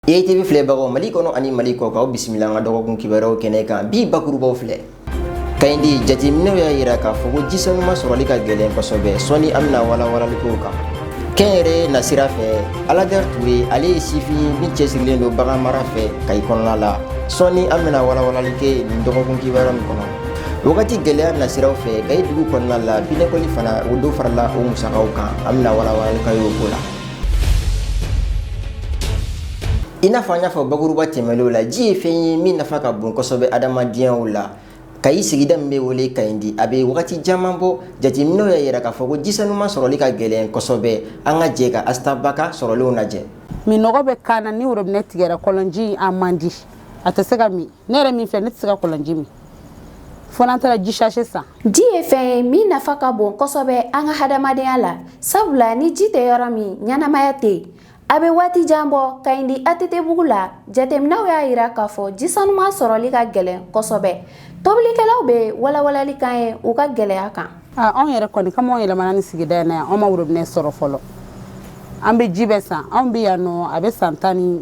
ATV filɛbagaw Mali kɔnɔ ani Mali kɔkan aw bisimila an ka dɔgɔkun kibaruyaw kɛnɛ kan bi bakurubaw filɛ Kayindi jateminɛw y'a yira k'a fɔ ko ji sanuma sɔrɔli ka gɛlɛn kosɛbɛ sɔni an bɛna walawalali k'o kan kɛnyɛrɛye nasira fɛ aladɛri ture ale ye sifin ye min cɛsirilen don bagan mara fɛ kayi kɔnɔna la sɔni an bɛna walawalali kɛ nin dɔgɔkun kibaruya nin kɔnɔ wagati gɛlɛya nasiraw fɛ kayi dugu kɔnɔna la binɛkɔli fana o dɔ farala o musakaw kan an bɛna walawalali k'aw y'o ko la i n'a fɔ an y'a fɔ bakuruba tɛmɛnenw la ji ye fɛn ye min nafa ka bon kosɛbɛ adamadenyaw la kayi sigida min bɛ wele kayindi a bɛ wagati caman bɔ jateminɛw y'a yira k'a fɔ ko ji sanuman sɔrɔli ka gɛlɛn kosɛbɛ an ka jɛ ka asita ba ka sɔrɔlenw lajɛ minnɔgɔ bɛ k'an na ni worobinɛ tigɛra kɔlɔnji a man di a tɛ se ka min ne yɛrɛ min filɛ ne tɛ se ka kɔlɔnji min fo n'an taara ji sachet san ji ye fɛn ye min nafa ka bon kosɛbɛ an ka hadamadenya la sabula ni ji tɛ yɔrɔ min ɲɛnamaya tɛ yen a bɛ waati jan bɔ kayindi atetebugu la jateminɛw y'a yira k'a fɔ ji sanuman sɔrɔli ka gɛlɛn kosɛbɛ tobilikɛlaw bɛ walawalali k'an ye u ka gɛlɛya kan anw yɛrɛ kɔni kama anw yɛlɛmana nin sigida in yan anw ma worobinɛ sɔrɔ fɔlɔ an bɛ ji bɛ san anw bɛ yan nɔ a bɛ san tan ni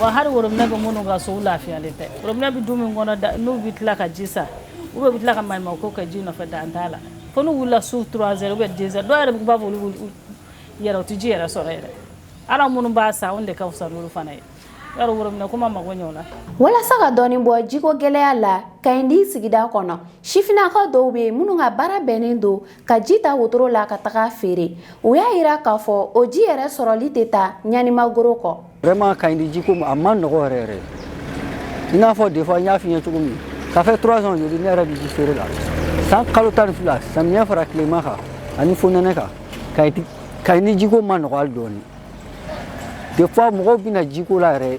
Wa hali worobinɛ bɛ minnu ka so u lafiyalen tɛ, worobinɛ bɛ du min kɔnɔ n'u bɛ tila ka ji san ou bien u bɛ tila ka maɲumanko kɛ ji nɔfɛ dan t'a la, fo n'u wulila su 3 heures ou bien 2 heures dɔw yɛrɛ bɛ yen u b'a fɔ k'olu bɛ yɛrɛ u tɛ ji yɛrɛ sɔrɔ yɛrɛ, hali anw minnu b'a san anw de ka fisa n'olu fana ye, i b'a dɔn worobinɛ ko ma mago ɲɛ o la. Walasa ka dɔɔni bɔ jiko gɛlɛya la Kayindi sigida kɔnɔ, sifinnakaw dɔw bɛ yen minnu ka baara bɛnnen don ka ji ta wotoro la ka taga feere u y'a yira k'a fɔ o ji yɛrɛ sɔrɔli tɛ taa ɲanimagoro kɔ vraiment kayindi jiko a man nɔgɔ yɛrɛ yɛrɛ i n'a fɔ des fois n y'a f'i ɲɛ cogo min ça fait trois ans joli ne yɛrɛ bɛ ji feere la san kalo tan ni fila samiyɛ fara tilema kan ani fonɛnɛ kan kayindi jiko man nɔgɔ hali dɔɔni des fois mɔgɔw bɛ na jiko la yɛrɛ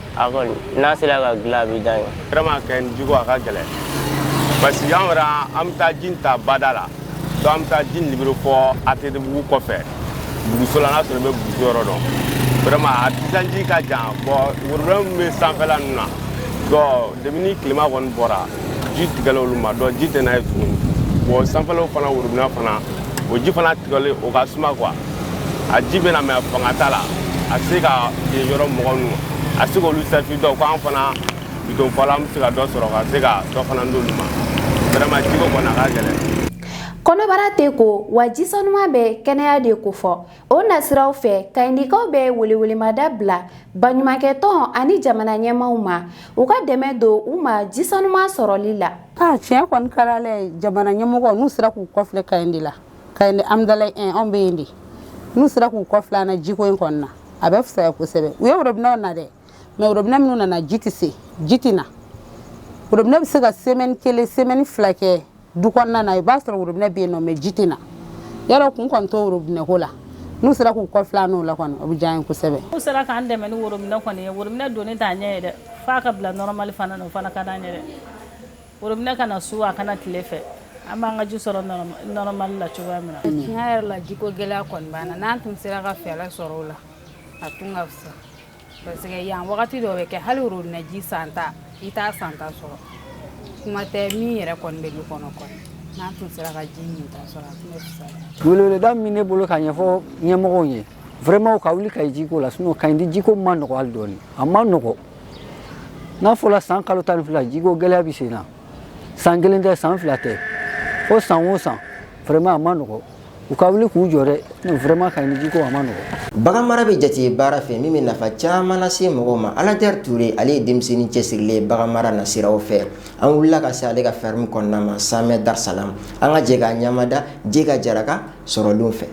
a kɔni n'a sera ka dilan a bɛ diya n ye vraiment kayindi jiko a ka gɛlɛn parce que an yɛrɛ an bɛ taa ji in ta bada la donc an bɛ taa ji in libérer fɔ atetebugu kɔfɛ buguso la n'a sɔrɔ i bɛ buguso yɔrɔ dɔn vraiment a distance ka jan bon worobinɛ min bɛ sanfɛla ninnu na donc depuis ni tilema kɔni bɔra ji tigɛla olu ma donc ji tɛ na yen tuguni bon sanfɛlaw fana worobinɛ fana o ji fana tigɛlen o ka suma quoi a ji bɛ na mais a fanga t'a la a tɛ se ka yen yɔrɔ mɔgɔ ninnu a tɛ se k'olu servi donc ko an fana bidon fɔla an bɛ se ka dɔ sɔrɔ ka se ka dɔ fana d'olu ma vraiment jiko kɔni a ka gɛlɛn kɔnɔbara tɛ ko wa ji sanuman bɛ kɛnɛya de kofɔ o nasiraw fɛ kayindikaw bɛ welewelemada bila baɲumankɛtɔn ani jamana ɲɛmaaw ma u ka dɛmɛ don u ma ji sanuman sɔrɔli la a tiɲɛ kɔni ka di ala ye jamana ɲɛmɔgɔ n'u sera k'u kɔfilɛ kayindi la kayindi amidalayi un anw bɛ yen de n'u sera k'u kɔ filɛ an na jiko in kɔni na a bɛ fisaya kosɛbɛ u ye worobinɛw na dɛ mɛ worobinɛ minnu nana ji tɛ se ji tɛ na worobinɛ bɛ se ka semɛni kelen semɛni fila kɛ du kɔnɔna na i b'a sɔrɔ worobinɛ bɛ yen nɔ mɛ ji tɛ na yɔrɔ kun kɔni t'o worobinɛ ko la n'u sera k'u kɔ filɛ n'o la kɔni o bɛ diya n ye kosɛbɛ n'u sera k'an dɛmɛ ni worobinɛ kɔni ye worobinɛ donni t'a ɲɛ ye dɛ f'a ka bila nɔrɔmali fana na o fana ka d'an ye dɛ Worobinɛ ka na su a ka na tile fɛ an b'an ka ji sɔrɔ nɔrɔmali la cogoya min na tiɲɛ yɛrɛ la jiko gɛlɛya kɔni b'an na n'an tun sera ka fɛɛrɛ sɔrɔ o la a tun ka fisa parce que yan wagati dɔ bɛ kɛ hali worobinɛ ji san ta i t'a san ta sɔrɔ kuma tɛ min yɛrɛ kɔni bɛ du kɔnɔ kɔni n'an tun sera ka ji min ta sɔrɔ a tun bɛ fisaya weleweleda min ne bolo ka ɲɛfɔ ɲɛmɔgɔw ye vraiment u ka wuli Kayi jiko la sinon Kayindi jiko ma nɔgɔ hali dɔɔni a ma nɔgɔ n'a fɔra san kalo tan ni fila jiko gɛlɛya bɛ sen na san kelen tɛ san fila tɛ fo san o san vraiment a ma nɔgɔ u ka wuli k'u jɔ dɔɔnin vraiment kayindi jiko a ma nɔgɔ bagan mara bɛ jate baara fɛ min bɛ nafa caman lase mɔgɔw ma aladɛri ture ale ye denmisɛnnin cɛsirilen ye bagan mara nasiraw fɛ an wulila ka se ale ka fɛrɛmu kɔnɔna ma samɛ darisalam an ka jɛ k'a ɲamada jega jara ka sɔrɔlenw fɛ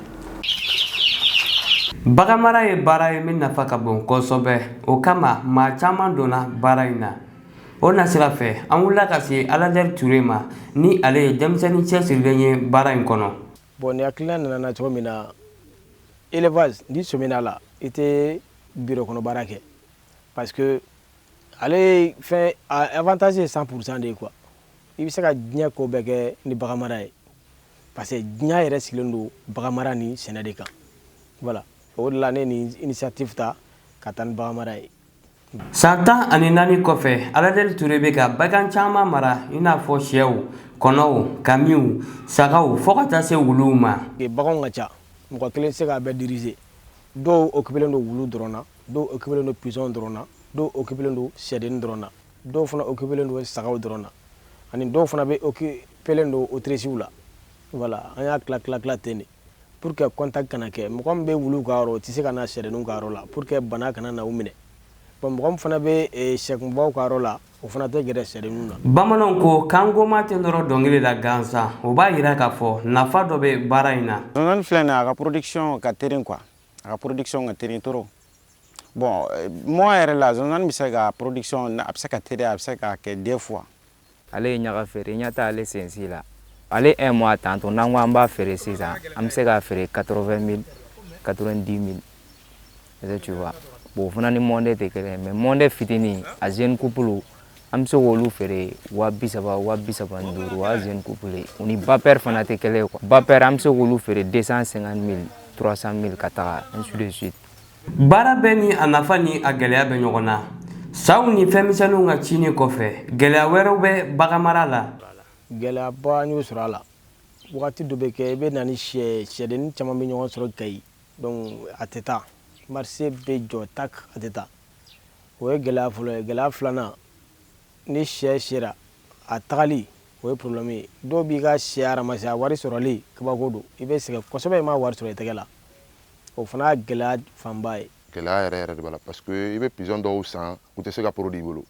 Bagan mara ye baara ye min nafa ka bon kosɛbɛ o kama maa caman donna baara in na o nasira fɛ an wulila ka se Aladɛri Ture ma ni ale ye denmisɛnnin cɛsirilen ye baara in kɔnɔ. Bon nin hakilina nana n na cogo min na élevage n'i sɔmina a la i tɛ biro kɔnɔ baara kɛ parce que ale fɛn avantage ye 100% de ye quoi i bɛ se ka diɲɛ ko bɛɛ kɛ ni bagan mara ye. parce que diɲɛ yɛrɛ sigilen don baganmara ni sɛnɛ de kan voilà o de la ne ni initiative ta ka taa ni baganmara ye san tan ani naani kɔfɛ aladɛri ture bɛ ka bagan caman mara i n'a fɔ sɛw kɔnɔw kamiw sagaw fo ka taa se wuluw ma baganw ka ca mɔgɔ kelen se k'a bɛɛ dirize dɔw okipilen don wulu dɔrɔn na dɔw okipilen don pizɔn dɔrɔn na dɔw okipilen don sɛdennin dɔrɔn na dɔw fana okipilen don sagaw dɔrɔn na ani dɔw fana bɛ okipilen don otirisiw la voilà an y'a tila tila tila ten de pour que contact kana kɛ mɔgɔ min bɛ wuluw ka yɔrɔ o tɛ se ka na sɛdenninw ka yɔrɔ la pour que bana kana na u minɛ bɔn mɔgɔ min fana bɛ eh, sɛkunbaw ka yɔrɔ la o fana tɛ gɛrɛ sɛdenninw na bamananw ko kangoma tɛ nɔrɔ dɔnkili la gansan o b'a yira k'a fɔ nafa dɔ bɛ baara in na zonzani filɛ nin ye a ka production ka terin quoi a ka production ka terin trop bon euh, mois yɛrɛ la zonzani bɛ se ka production a bɛ se ka teliya a bɛ se ka kɛ deux fois ale ye ɲaga feere i ɲɛ t'a ale sensi la ale un mois tantôt n'an ko an b'a feere sisan an bɛ se k'a feere 80 000 90 000 est-ce que tu vois bon o fana ni monde tɛ kelen ye mais monde fitini a jeune couple an bɛ se k'olu feere wa bi saba wa bi saba ni duuru wa jeune couple u ni bapɛri fana tɛ kelen ye quoi bapɛri an bɛ se k'olu feere deux cent cinquante mille trois cent mille ka taga ainsi de suite baara bɛɛ ni a nafa ni a gɛlɛya bɛ ɲɔgɔn na saw ni fɛnmisɛnninw ka cinni kɔfɛ gɛlɛya wɛrɛw bɛ baganmara la gɛlɛyaba an y'o sɔrɔ a la wagati dɔ bɛ kɛ i bɛ na ni sɛ sɛdennin caman bɛ ɲɔgɔn sɔrɔ kayi donc a tɛ taa marché bɛ jɔ tak a tɛ taa o ye gɛlɛya fɔlɔ ye gɛlɛya filanan ni sɛ sera a tagali o ye problème ye dɔw b'i ka sɛ ramasser a wari sɔrɔli kabako don i bɛ sɛgɛn kosɛbɛ i m'a wari sɔrɔ i tɛgɛ la o fana y'a gɛlɛya fanba ye gɛlɛya yɛrɛ yɛrɛ de b'a la parce que i bɛ pigeon dɔw san u tɛ se ka produit i bolo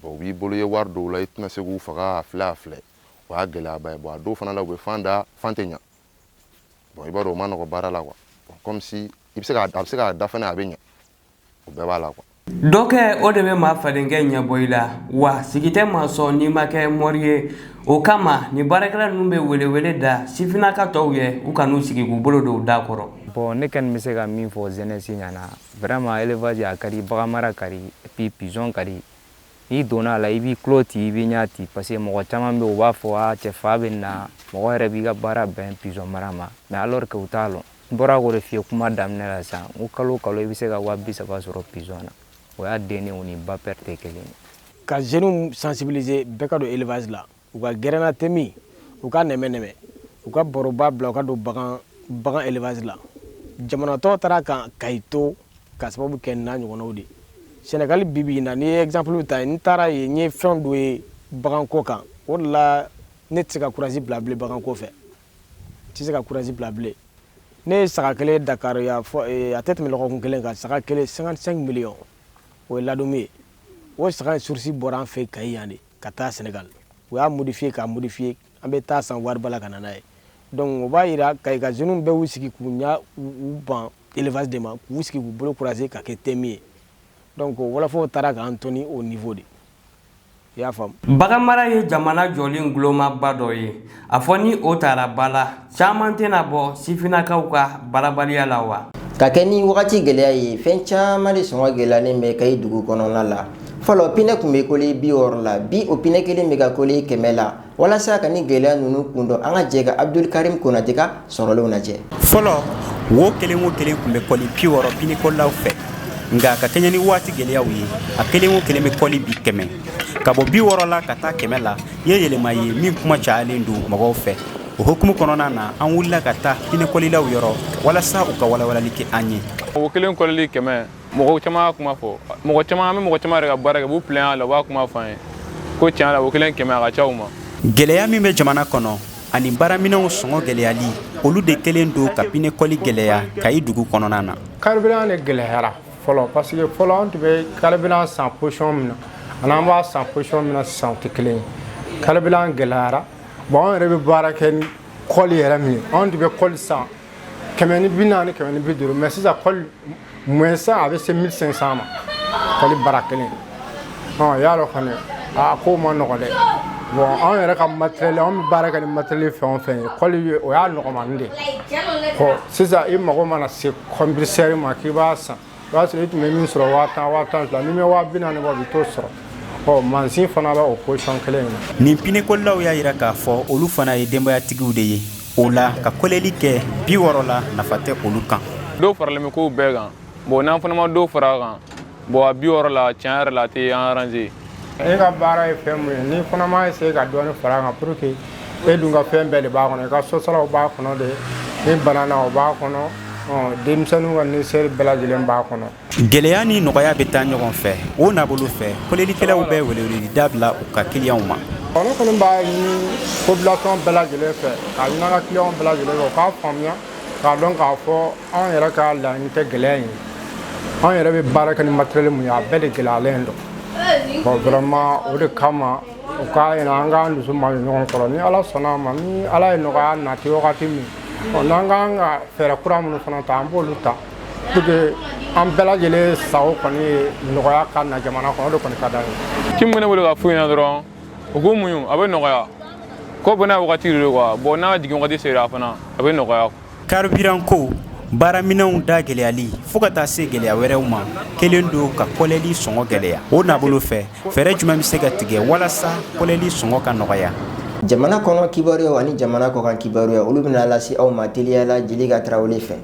bon u b'i bolo i ye wari don u la i tɛna se k'u faga a filɛ a filɛ o y'a gɛlɛyaba ye bon a dɔw fana la u bɛ fan da fan tɛ ɲa bon i b'a dɔn o ma nɔgɔ baara la quoi bon comme si i bɛ se k'a a bɛ se k'a da fana a bɛ ɲa o bɛɛ b'a la quoi dɔ kɛ o de bɛ maa fadenkɛ ɲɛbɔ i la wa sigi tɛ maa sɔn n'i ma kɛ mɔri ye o kama nin baarakɛla ninnu bɛ welewele da sifinnaka tɔw ye u kan'u sigi k'u bolo don u da kɔrɔ bon ne kɔni bɛ se ka min fɔ jeunesse ɲɛ na vraiment élevage a ka di baganmara ka di puis pigeon ka di n'i donna a la i b'i tulo ti i b'i ɲɛ ti parce que mɔgɔ caman bɛ u b'a fɔ a cɛ fa bɛ n na mɔgɔ yɛrɛ b'i ka baara bɛn pigeon mara ma mais alors que u t'a lɔn N bɔra k'o de f'i ye kuma daminɛ la sisan n ko kalo o kalo i bɛ se ka waa bi saba sɔrɔ pigeon na o y'a dennin o ni ba pɛri tɛ kelen ye. Ka jeunes sensibiliser bɛɛ ka don élevage la, u ka gɛrɛn na temin, u ka nɛmɛ nɛmɛ, u ka baroba bila u ka don bagan bagan élevage la. Jamana tɔw taara ka Kayi to k'a sababu kɛ nin n'a ɲɔgɔnnaw de ye. Senegal bi bi in na n'i ye exemple ta yen, n taara yen n ye fɛn dɔ ye baganko kan, o de la ne tɛ se ka courage bila bilen baganko fɛ. tɛ se ka courage bila bilen ne ye saga kelen dakar y'a fɔ eh, a tɛ tɛmɛ lɔgɔkun kelen kan saga kelen 55 miliyɔn o ye ladoum ye o saga in source bɔra an fɛ kayi yan de ka taa senegal u y'a modifier k'a modifier an bɛ taa a san wariba la ka na n'a ye donc o b'a yira kayi ka jeunes bɛɛ y'u sigi k'u ɲa u ban élevage de ma k'u sigi k'u bolo croiser ka kɛ temin ye donc wɔlɔfɔw taara k'an to nin niveau de i y'a faamu baganmara ye jamana jɔli ngulomaba dɔ ye a fɔ ni o tara ba la caman tɛna bɔ sifinnakaw ka baarabaliya la wa ka kɛ ni wagati gɛlɛya ye fɛn caman de sɔngɔ gɛlɛyalen bɛ kayi dugu kɔnɔna la fɔlɔ pinɛ tun bɛ kɔli bi wɔɔrɔ la bi o pinɛ kelen bɛ ka kɔli kɛmɛ la walasa ka ni gɛlɛya ninnu kun dɔn an ka jɛ ka abdul karim konate ka sɔrɔlenw lajɛ fɔlɔ wo kelen o kelen tun bɛ kɔli bi wɔɔrɔ pinɛkɔlilaw fɛ nka ka kɛɲɛ ni waati gɛlɛyaw ye a kelen o kelen bɛ kɔli bi kɛmɛ ka bɔ bi wɔɔrɔ la ka taa kɛmɛ la ye yɛlɛma ye min kuma cayalen don mɔgɔw fɛ o hukumu kɔnɔna na an wulila ka taa pinɛkɔlilaw yɔrɔ walasa u ka walawalali kɛ an ye wo kelen kɔli kɛmɛ mɔgɔ caman kuma fɔ mɔgɔ caman bɛ mɔgɔ caman yɛrɛ ka baara kɛ b'u pilɛn a la u b'a kuma fɔ an ye ko tiɲɛ la wo kelen kɛmɛ a ka ca u ma gɛlɛya min bɛ jamana kɔnɔ ani baaraminɛnw sɔngɔ gɛlɛyali olu de kɛlen don ka pinekɔli gɛlɛya kayi dugu kɔnɔna na karibilan de gɛlɛyara fɔlɔ parce que fɔlɔ an tun bɛ karibilan san position min na ani an b'a san position min na sisan o tɛ kelen ye karibilan gɛlɛyara bon an yɛrɛ bɛ baara kɛ ni kɔli yɛrɛ min ye anw tun bɛ kɔli san kɛmɛ ni bi naani kɛmɛ ni bi duuru mais sisan kɔli moins cher a bɛ se mille cinq cent ma kɔli bara kelen ɔ y'a dɔn kɔni a ko ma nɔgɔ dɛ bon anw yɛrɛ ka matériel anw bɛ baara kɛ ni matériel fɛn o fɛn ye kɔli o y'a nɔgɔmani de ye sisan i mago mana se compresseur ma k'i b'a san o b'a sɔrɔ i tun bɛ min sɔrɔ waa tan waa tan fila n'i bɛ waa bi naani bɔ i bɛ t'o sɔrɔ ɔ mansin fana bɛ o position kelen in na nin pinekolilaw y'a yira k'a fɔ olu fana ye denbayatigiw de ye o la ka koleli kɛ bi wɔɔrɔ la nafa tɛ olu kan dɔ faralen bɛ kow bɛɛ kan bon n'an fana ma dɔ fara a kan bon a bi wɔɔrɔ la tiɲɛ yɛrɛ la a tɛ an arranger E ka baara ye fɛn min ye n'i fana m'a essayer ka dɔɔnin far'a kan pour que e dun ka fɛn bɛɛ de b'a kɔnɔ i ka sosaraw b'a kɔnɔ dɛ n'i banana o b'a kɔnɔ denmisɛnninw ka nécessaire bɛɛ lajɛlen b'a kɔnɔ. Gɛlɛya ni nɔgɔya bɛ taa ɲɔgɔn fɛ o nabolo fɛ kolelikɛlaw bɛ weleweleda bila u ka kiliyanw ma. Ɔ ne kɔni b'a ɲini population bɛɛ lajɛlen fɛ k'a ɲini an ka kiliyanw bɛɛ lajɛlen fɛ u k'a faamuya k'a dɔn k'a fɔ anw yɛrɛ ka laɲini tɛ gɛlɛya in ye anw yɛrɛ bɛ baara kɛ ni matériel min ye a bɛɛ de gɛlɛyalen don. vraiment o de kama u k'a ɲini an k'an dusu mada ɲɔgɔn kɔrɔ ni ala sɔnna a ma ni ala ye nɔgɔya nati wagati min n'an ka kan ka fɛɛrɛ kura minnu fana ta an b'olu ta pour que an bɛɛ lajɛlen sago kɔni ye nɔgɔya ka na jamana kɔnɔ o de kɔni ka d'an ye ci min bɛ ne bolo ka f'u ɲɛna dɔrɔn u k'u muɲu a bɛ nɔgɔya ko bɛɛ n'a wagati de don quoi bon n'a jigin wagati sera fana a bɛ nɔgɔya Karibiranko baaraminɛnw da gɛlɛyali fo ka taa se gɛlɛya wɛrɛw ma kɛlen don ka kɔlɛli sɔngɔ gɛlɛya o na bolo fɛ fɛɛrɛ jumɛn bɛ se ka tigɛ walasa kɔlɛli sɔngɔ ka nɔgɔya jamana kɔnɔ kibaruya ani jamana kɔkan kibaruya olu bɛna lase aw ma teliya la jelika tarawele fɛ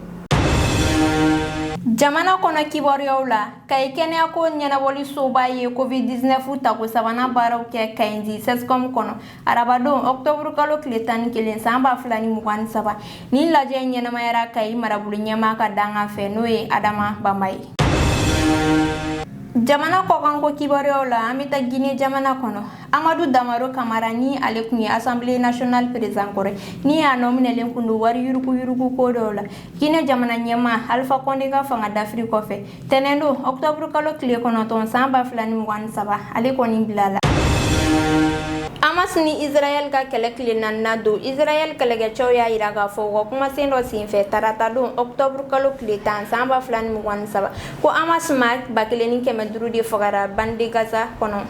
jamana kɔnɔ kibaruyaw la kayi kɛnɛyako ɲɛnabɔlisoba ye covid 19 tako sabanan baaraw kɛ kayindi cscom kɔnɔ arabadon octobre kalo tile tan ni kelen san ba fila ni mugan ni saba nin lajɛ ɲɛnamayara kayi marabolo ɲɛmaa ka dangan fɛ n'o ye adama bamba ye jamana kɔkanko kibaruyaw la an bɛ taa gine jamana kɔnɔ amadu damaro kamara ni ale kun ye assemblée nationale président kɔrɔ ye ni a nɔminɛlen kun don wari yuruguyurugu ko dɔw la gine jamana ɲɛmaa alifa kɔnde ka fanga dafiri kɔfɛ Tɛnɛn don octobre kalo tile kɔnɔntɔn san 2023 ale kɔni bilala. Hamas ni Israël ka kɛlɛ tile naaninan don, Israël kɛlɛkɛcɛw y'a yira k'a fɔ u ka kumasen dɔ senfɛ tarata don octobre kalo tile tan san 2023 ko Hamas maa 1,500 de fagara bande de Gaza kɔnɔ.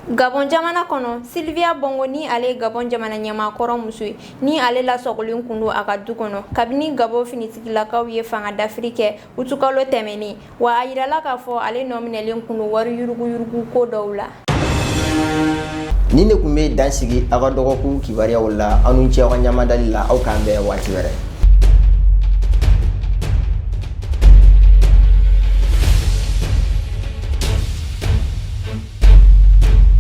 Gabon jamana kɔnɔ, Sylvia Bongo ni ale ye Gabon jamana ɲɛmaa kɔrɔ muso ye. Ni ale lasɔgɔlen kun don a ka du kɔnɔ kabini Gabon finitigilakaw ye fanga dafiri kɛ utukalo tɛmɛnen wa a yirala k'a fɔ ale nɔminɛlen kun don wari yuruguyurugu ko dɔw la ni ne kun bɛ dan sigi aw ka dɔgɔkun kibaruyaw la aw ni ce aw ka ɲamadali la aw k'an bɛn waati wɛrɛ